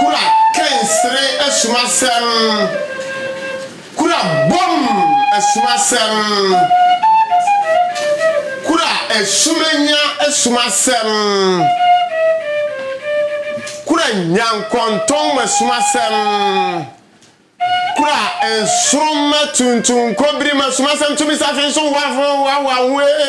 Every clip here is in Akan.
Kura kensere asumasɛm. Kura bɔm asumasɛm. Kura asumanya asumasɛm. Kura nyankɔntɔn asumasɛm. Kura nsoromma tuntum nkɔbirim asumasɛm tumi safe nso hoahoa hoahoa ho ee.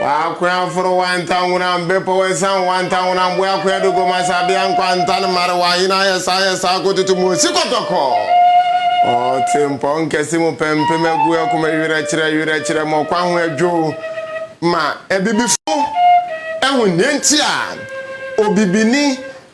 W'akoa foro w'antanhona mbepɔw esian w'antanhona mboa koa do gua mu asabea nkwantan mmar w'ahen ayɛ saa ayɛ saa kototo mu osi kɔtɔkɔ ɔtse mpɔw nkɛse mu pɛmpem agu akoma werɛ kyerɛ werɛ kyerɛ ma ɔkwan ho adwow ma abibifo ehu nea ntsi a obibini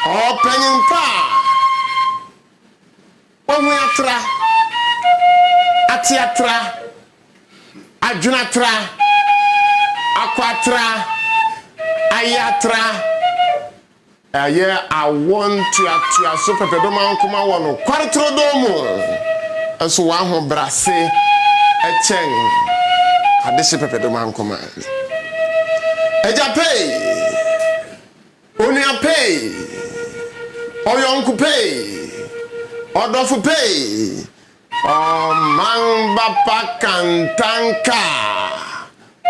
Ɔpanyin pa a wahu atra, ate atra, adwene atra, akɔ atra, ayɛ atra, ɛyɛ awo ntoatoaso pɛpɛdomankoma wɔ nokware turodoo mu, nso w'ahobrɛase kyɛn adehye pɛpɛdomankoma. Agya Pei Onua pɛe, ɔyɔnko pɛe, ɔdɔfo pɛe, ɔman ba pa kantanka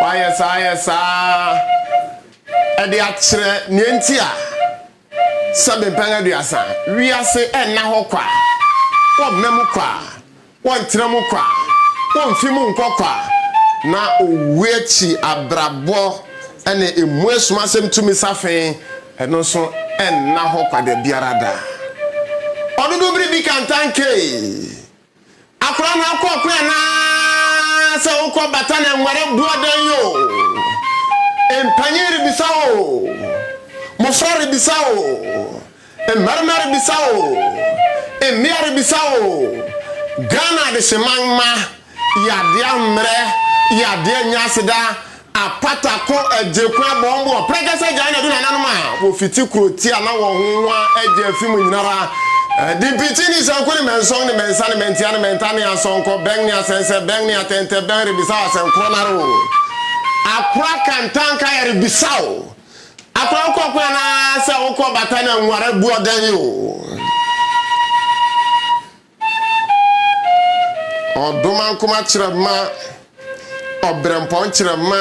a wayɛ saa ayɛ saa de akyerɛ nea enti a sɛ mpɛn aduasa wiase nna hɔ kwa, wɔmmam kwa, Wɔntra mu kwa, womfi mu nkɔ kwa, na owu akyi abrabɔ ne emu asumasɛm tumi safe, ɛno nso nna hɔ kwa da biara da. Ɔno de bere bi kantankee. Akwadaa no akɔ ɔko anaasɛ wokɔ bata na nware boɔ dɛn oo, mpanyin rebisa oo, mmofra rebisa oo, Mmarima rebisa o, mmea rebisa o, Ghana adehyeman mma, Yadeɛ ammrɛ, yadeɛ annya aseda, Apata ko, Agyeku abɔ wɔn boɔ, Prɛkɛsɛ agyae na adu nananom a wɔfiti Kuroti a na wɔn ho hwa agye afi mu nyinara, Adimpikyi ne Sanku ne Mɛnsɔn ne Mɛnsa ne Mɛntia ne Mɛnta ne Asɔnkɔ, Bɛn ne Asɛnsɛ, Bɛn ne Atɛntɛ, Bɛn rebisa o, Asɛnkorɔ no ara o, Akora Kantanka yɛrebisa o, Akwankwa kwan ara sɛ wokɔ bata na nware bu ɔdan o. Ɔdomankoma kyerɛma, ɔberɛmpɔn kyerɛma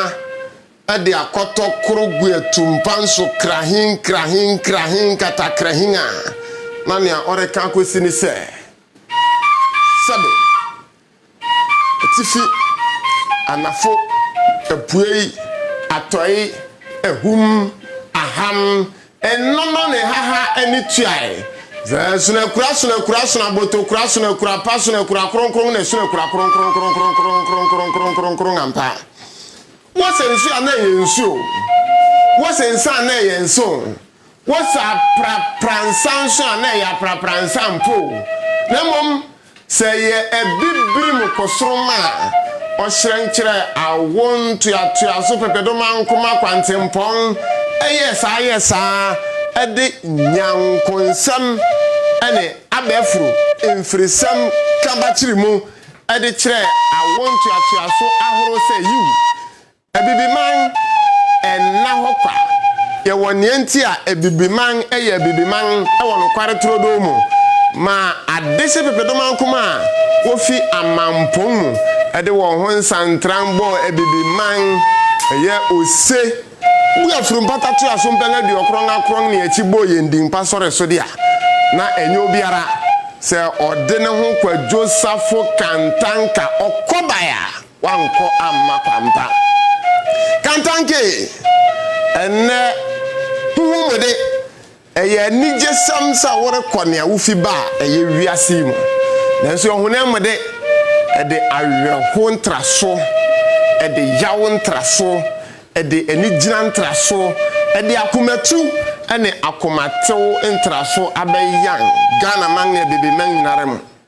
de akɔtɔ koro gu atumpa nso krahin krahin krahin katakrahin a, na nea ɔreka akɔsi ne sɛ, sɛbe. atifi, anafo, apuei, atɔe, ahum, ahan, nnono ne haha ne tuae, dza sono akura sono akura sono abotow kura sono akura pa sono akura kronkron na sono akura kronkronkronkronkronkronkronkronkronkron ampa. Wɔsɛ nsu a na ɛyɛ nsu o, wɔsɛ nsa a na ɛyɛ nsa o. Wo sɛ aprapra nsa nso a, na ɛyɛ aprapra nsa mpo o, na mmom sɛ ɛyɛ abibirim kosoroma a, ɔhyerɛn kyerɛ awo ntoatoaso pɛpɛdomankoma kwantempɔn, ɛyɛ saa yɛ saa de Nyankonsɛm ne abɛforo mfirisɛm ka bakyere mu de kyerɛ awo ntoatoaso ahorow sɛ yiw. Abibiman nna hɔ kwa. Yɛwɔ nea enti a Abibiman yɛ Abibiman wɔ nokware turodoo mu ma adehye pepedomankoma a wofi amampong mu de wɔn ho nsantran bɔɔ Abibiman yɛ ose bu afuru mpata toa so mpɛn aduokron akron ne akyi bɔɔ yɛn din pa sɔre so de a na ɛnyɛ obiara sɛ ɔde ne ho kwadwo safo kantanka ɔkɔbae a Wankɔ amma kwampa. Kantanke, Ɛnnɛ, ho hu mo de, ɛyɛ anigyesɛm sɛ worekɔ nea wufi ba a ɛyɛ wiase yi mu. Nanso ɔhonam mu de, ɛde awerɛhow ntraso, ɛde yaw ntraso, ɛde anigyina ntraso, ɛde akomatu ne akomatew ntraso abɛyan Ghanaman ne abibiman nyinara mu.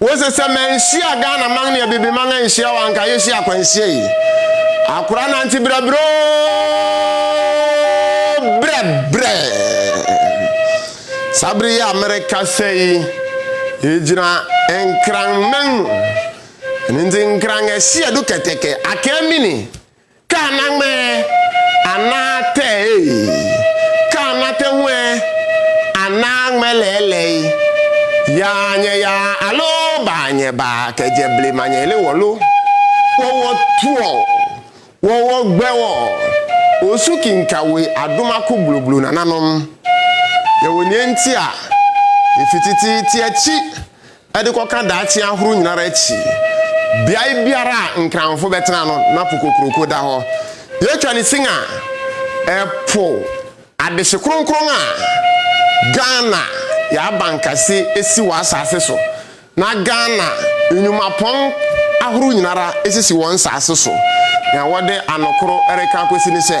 Wose sɛ manhyia Ghana man ne Abibiman anhyia wo a anka yɛhyia akwanhyia yi. Akora nante brɛbrɛ oo brɛbrɛ. Saa bere yi a merekasa yi, yɛgyina Nkranman. Ɛno nti Nkran ɛhye adu kɛtɛkɛ, Akaa Mini. Kaa n'ama ɛ, anaa tɛ ee. Kaa n'atɛ ho ɛ, anaa ŋmɛ lɛɛlɛi. Yaa nyɛ yaa alo baa nyɛ baa kɛ jɛ ble ma nyɛ le wɔ lo. Wɔ wɔ tuɔ, wɔ wɔ gbɛ wɔ o su ki nka we a do ma ko bloblo nananom. Yɛ wo niɛ nti a, e fititi tiɛ ci de kɔka daakye ahorow nyina ara akyi, beae biara a Nkranfo bɛtena no, na po kokuroko da hɔ. Yɛtwa no sin a, ɛpo adehye kronkron a Ghana yɛ abankɛse si wɔ asase so, na Ghana nnwumapɔn ahorow nyina ara sisi wɔn nsase so. Nea wɔde anokoro reka akosi ne sɛ,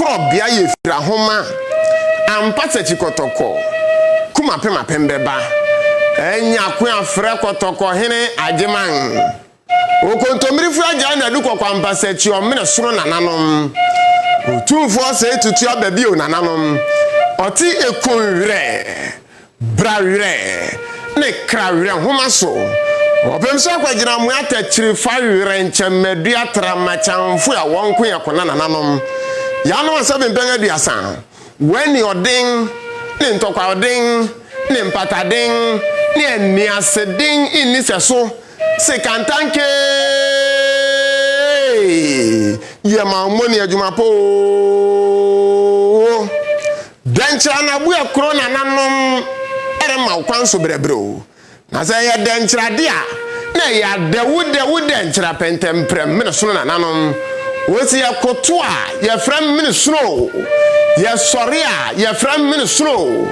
kɔɔ bea yɛ fira homa ampa sɛkyi kɔtɔkɔ kumapem apem bɛba anya ko afrɛ kɔtɔkɔ hene agyeman okontomire fira gyae na du kɔkɔ ampa sɛkyi ɔmene soro nananom otumfoɔ sɛe tutu aba bio nananom ɔte ekun werɛ Bra Werɛ ne Kra Werɛ nhoma so wɔpem sɛ kwagyina amoa takyiri fa werɛ nkyɛnmadua tra ma kyamfo a wɔn nko yɛ kona nananom yanom asɛbe mpɛn aduasa w'ani ɔden ne ntɔkwa ɔden ne mpataden ne aniaseden nni sɛso se kantankee yɛ ma wo mmɔne adwuma poo Dɛn kyerɛ anabue koro na nanom remma wo kwan so brɛbrɛ o? Na sɛ ɛyɛ dɛn kyerɛ ade a, na ɛyɛ adɛwodɛwo dɛn kyerɛ apɛntɛmprɛm menesono na nanom o se yɛkoto a yɛfrɛ me menesono o, yɛsɔre a yɛfrɛ me menesono o.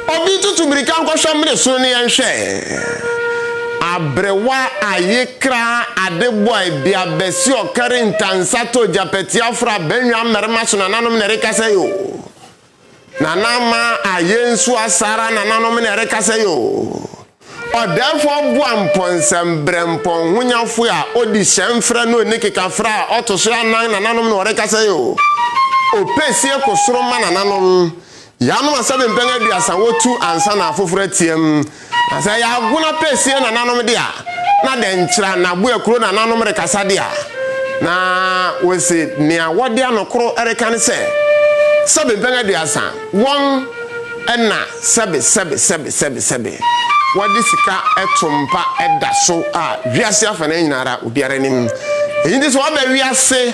Obi tutu mirika nkɔhwɛ menesono no yɛnhwɛ. Abrewa, ayekra, adeboae, biabasi, ɔkari, ntansa, to, gyapɛti, afra, bɛnwa, mmarima so na nanom na ɛrekasa yi o. Nana ma a yensua saa ara nananom na ɛrekasa yi o. Ɔdɛɛfo ɔboa mpɔnsɛm brɛ mpɔnhonyafo a odi hyɛnfrɛ ne onikekafrɛ a ɔto so anan nananom na ɔrekasa yi o. Opesie ko soro ma nananom. Yɛanom asɛbempɛn aduasa wotu ansa na afoforo ateɛm. Na sɛ ɛyɛ agono apɛsie nananom de a, na dɛnkyira na Abuakuro nananom rekasa de a, na wɔsi nea wɔde ano koro reka no sɛ, Sɛbe mpɛn aduasa, wɔn na sɛbe, sɛbe, sɛbe, sɛbe, sɛbe. Wɔde sika to mpa da so a wiase afanan nyina ara obiara nim. Eyi nti sɛ wɔba wiase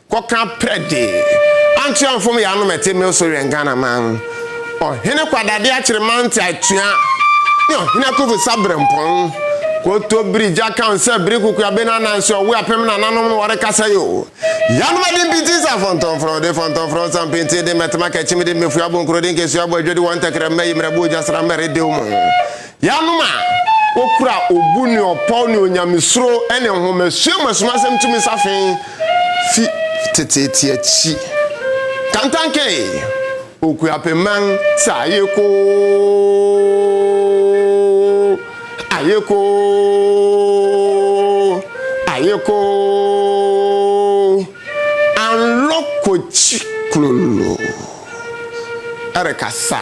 Kɔka prɛ de, Ankyea mfom yaa no ma ɛte Milso wɛn Ghanaman, Ɔhene Kwadade akyere Mante atua ne Ɔhene Akufu sa Brempɔn, Kotobiri gya ka nsɛ biri kukua bena Ananse ɔwe apem nananom no wɔrekasa yi o, Yanom ade mpiti nsa fɔntɔn frɔde fɔntɔn frɔ nsa mpintin de mmɛtema kakyim de mmɛfua bo nkorode nkesua bo adwadi wɔ ntɛkrɛma ayi mmerɛbo ogya sramma ɛredɛw mu Yɛanom a wokura obu ne ɔpɔw ne onyamesuro ne nhomasua mu asumansɛm tumi safe fi teteete akyi. Kantankeyi, Okuapemang sɛ ayekoo, ayekoo, ayekoo, anlɔ kɔkyi klolo rekasa.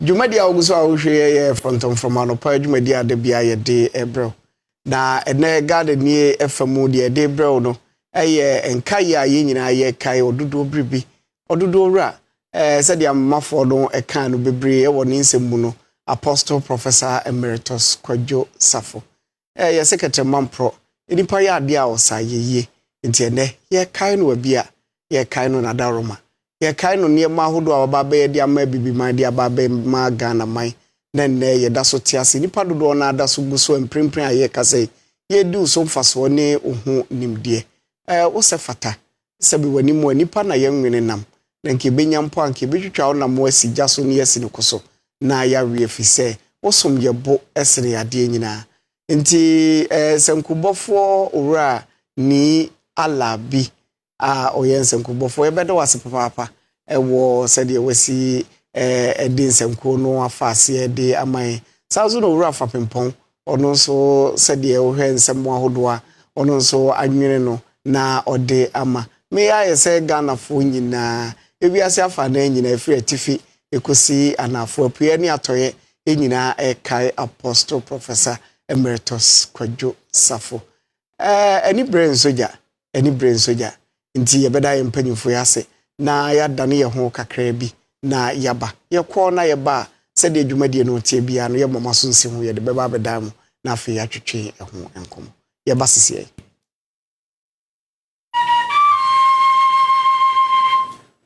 Dwumadi a wogu so a wohwɛ yi yɛ frɔmtɔmfrɔm anɔpa dwumadi a da biara yɛde rebrɛ wo. Na ɛnɛ Ghana nie ɛfa mu deɛ yɛde rebrɛ wo no yɛ nkaeɛ a yɛn nyinaa yɛkae ɔdodoɔ biribi. Ɔdodoɔ wura, eh, sɛdeɛ amomafoɔ no ɛkaa no bebree wɔ ne nsɛm mu no, Apostle Professor Emeritus Kwadwo Safo. Ɛɛ, yɛse kɛtrɛma mporɔ. Nnipa yɛ adeɛ a ɔsan yɛ yie. Nti ɛnnɛ, yɛrekae no Abia, yɛrekae no Nadaworoma, yɛrekae no nneɛma ahodoɔ a waba abɛyɛ de ama Abibiman, de aba abɛma Ghanaman, na nnɛ yɛda so te ase. Nnipa dodoɔ no ara da so gu so a mprempren a yɛrekasa yi, yɛredi wo so mfasoɔ ne wo ho nimdeɛ. Ɛɛ, wosɛ fata. sɛbe w'anim a, nnipa na yɛnwene nam, na nka yɛbɛnya mpo a, nka yɛbɛtwitwa wo nam asi gya so na yɛasi no ko so na yɛawe ɛfiri sɛ, wo som yɛ bo sene adeɛ nyinaa. Nti ɛɛ sankubɔfoɔ owura nii Allah bi a ɔyɛ nsankubɔfoɔ, yɛbɛda wo ase papaapa wɔ sɛdeɛ wasi de nsɛnkuo no afa aseɛ de ama yɛn. Saa nso na Owura Fapempɔn, ɔno nso sɛdeɛ wohwɛ nsɛm mu ahodoɔ a, ɔno nso anwene no na ɔde ama. Me ayɛ sɛ Ghanafoɔ nyinaa, ewiase afa nan nyinaa, ɛfiri atifi kɔsi anaafoɔ, apueɛ ne atɔeɛ, yɛn nyinaa rekae Apostle Professor Emeritus Kwadwo Safo. Ɛɛ, ani bere nso gya, ɛne Brensogya nti yɛbɛda yɛn mpanyimfo yi ase na yɛadane yɛn ho kakraa bi na yɛaba. Yɛkɔ na yɛba a, sɛdeɛ dwumadie no teɛ biara no, yɛmmɔ mo aso nsi ho, yɛde bɛba abɛdan mo na afei yɛatwetwe ɛho nkɔmmɔ. Yɛba sesiei.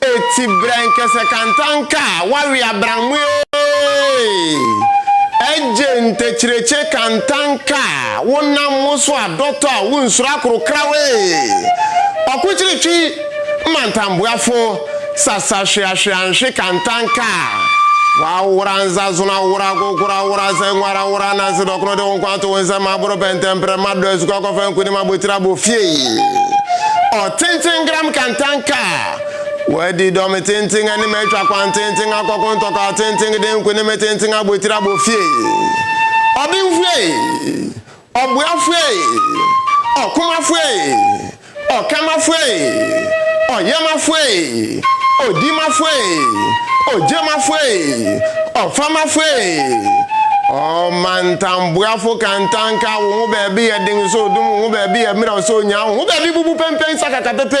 Eti brɛ nkɛsɛ kanta nka a wawe abran mu eeeeee Egye ntekyirekye kanta nka a wo nam wo so a dɔtɔ a wo nsuro akoro kra wo eeeeee Ɔkokyiri twi mmantam boa fo sasa hwea hwea nhwe kanta nka a W'awora nza zono awora agogoro awora zɛ nwara awora nanse dɔkono de wo nko ato wo nsam aboro pɛ ntɛm prɛ ma dɔ asuka kɔfɛ nkunim abotiri abɔ fie Ɔtenten gram kanta nka a. Wadi dɔme tenten anim atwa kwan tenten akɔko ntɔkwaw tenten de nkonim tenten abɔ tiri abɔ fie. Ɔbenfo ei! Ɔboafo ei! Ɔkomafo ei! Ɔkamafo ei! Ɔyɛmafo ei! Odimafo ei! Ogyemafo ei! Ɔfamafo ei! Ɔmantamboafo ka ntanka wo ho baabi yɛ den sɛ odum wo ho baabi yɛ mmerɛw sɛ onyaa wo ho baabi bubu pɛnpɛn sakaka pɛpɛ.